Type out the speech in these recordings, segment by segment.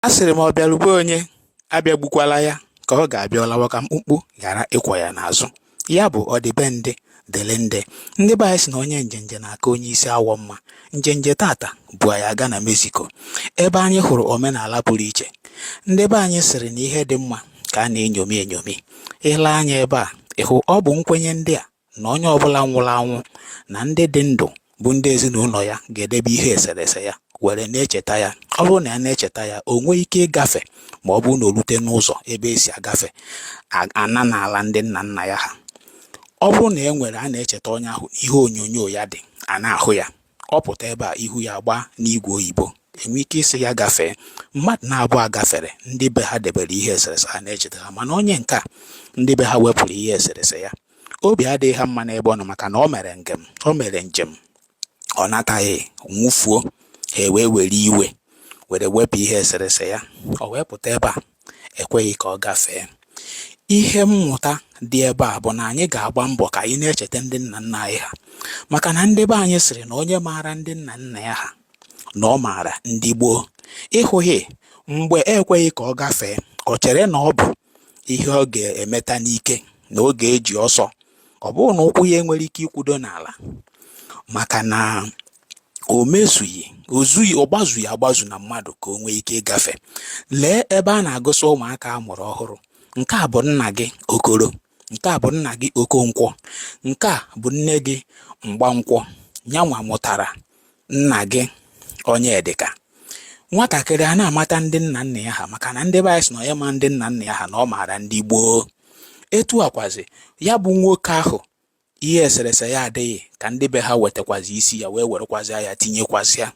A sịrị m ọ bịaru be onye abịagbukwala ya ka ọ ga-abịa ọ lawa ka mkpumkpu ghara ịkwọ ya n'azụ ya bụ ọdịbendị dịrị ndị ndị be anyị si na onye njenje na-aka onye isi awọ mma njenje tata bụ anyị aga na Mexico ebe anyị hụrụ omenala pụrụ iche ndị be anyị sịrị na ihe dị mma ka a na-enyomi enyomi ị lee anya ebe a ị hụ ọ bụ nkwenye ndị a na onye ọbụla nwụrụ anwụ na ndị dị ndụ bụ ndị ezinụlọ ya ga-edebe ihe eserese ya were na-echeta ya ọ bụrụ na ya na-echeta ya o nwee ike ịgafe ma ọ bụrụ na o rute n'ụzọ ebe e si agafe ana n'ala ndị nna nna ya ha ọ bụrụ na e nwere a na-echeta onye ahụ ihe onyonyo ya dị a na-ahụ ya Ọ pụta ebe a ihu ya gbaa n'igwe oyibo e nwee ike ịsị ya gafee mmadụ naabọ a gafere ndị be ha debere ihe eserese ha na-echeta ha mana onye nke a ndị be ha wepụrụ ihe eserese ya obi adịghị ha mma n'ebe ọ nọ maka na o mere njem ọ nataghị nwụfuo ha wee were iwe were wepụ ihe eserese ya o wee pụta ebe a ekweghị ka ọ gafee. Ihe mmụta dị ebe a bụ na anyị ga-agba mbọ ka anyị na-echeta ndị nna nna anyị ha maka na ndị be anyị sịrị na onye maara ndị nna nna ya ha na ọ maara ndị gboo ị hụghị mgbe ekweghị ka ọ gafee o chere na ọ bụ ihe ọ ga-emeta n'ike na ọ ga-eji ọsọ ọ bụrụ na ụkwụ ya enwero ike ịkwụdo n'ala maka na o mezughị o zughị ọ gbazughị agbazu na mmadụ ka o nwee ike ịgafe lee ebe a na-egosi ụmụaka a mụrụ ọhụrụ nke a bụ nna gị Okoro nke a bụ nna gị Okonkwọ nke a bụ nne gị Mgbankwọ nyanwa mụtara nna gị Onyedịka nwatakịrị a na-amata ndị nna nna ya ha maka na ndị be anyị sị na onye ma ndị nna nna ya ha na ọ maara ndị gboo etu a kwazi ya bụ nwoke ahụ ihe eserese ya adịghị ka ndị be ha wetakwazi isi ya wee werekwazịa ya tinyekwazịa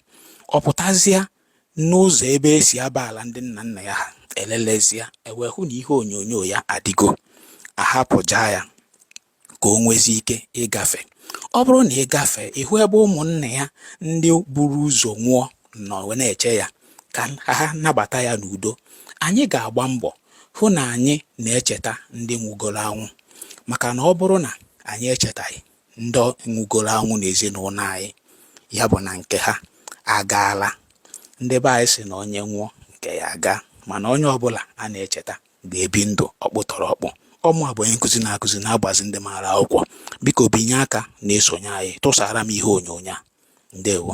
ọ pụtazịa n'ụzọ ebe e si aba ala ndị nna nna ya ha e lelezịa e wee hụ na ihe onyonyo ya adịgo a hapụzịa ya ka o nwezie ike ịgafe. Ọ bụrụ na ị gafee, ị hụ ebe ụmụnna ya ndị buru ụzọ nwụọ nọ wee na-eche ya ka ha nabata ya n'udo, anyị ga-agba mbọ hụ na anyị na-echeta ndị nwụgoro anwụ maka na ọ bụrụ na anyị echetaghị ndị nwụgoro anwụ n'ezinụlọ anyị, ya bụ na nke ha agaala. Ndị be anyị sị na onye nwụọ, nke ya agaa mana onye ọbụla a na-echeta. ga-ebi ndụ ọkpụtọrọkpụ ọ mụa bụ onye nkụzi na-akụzi na-agbazi ndị maara akwụkwọ biko binye aka na-esonye anyị tụsara m ihe onyonyo a ndewo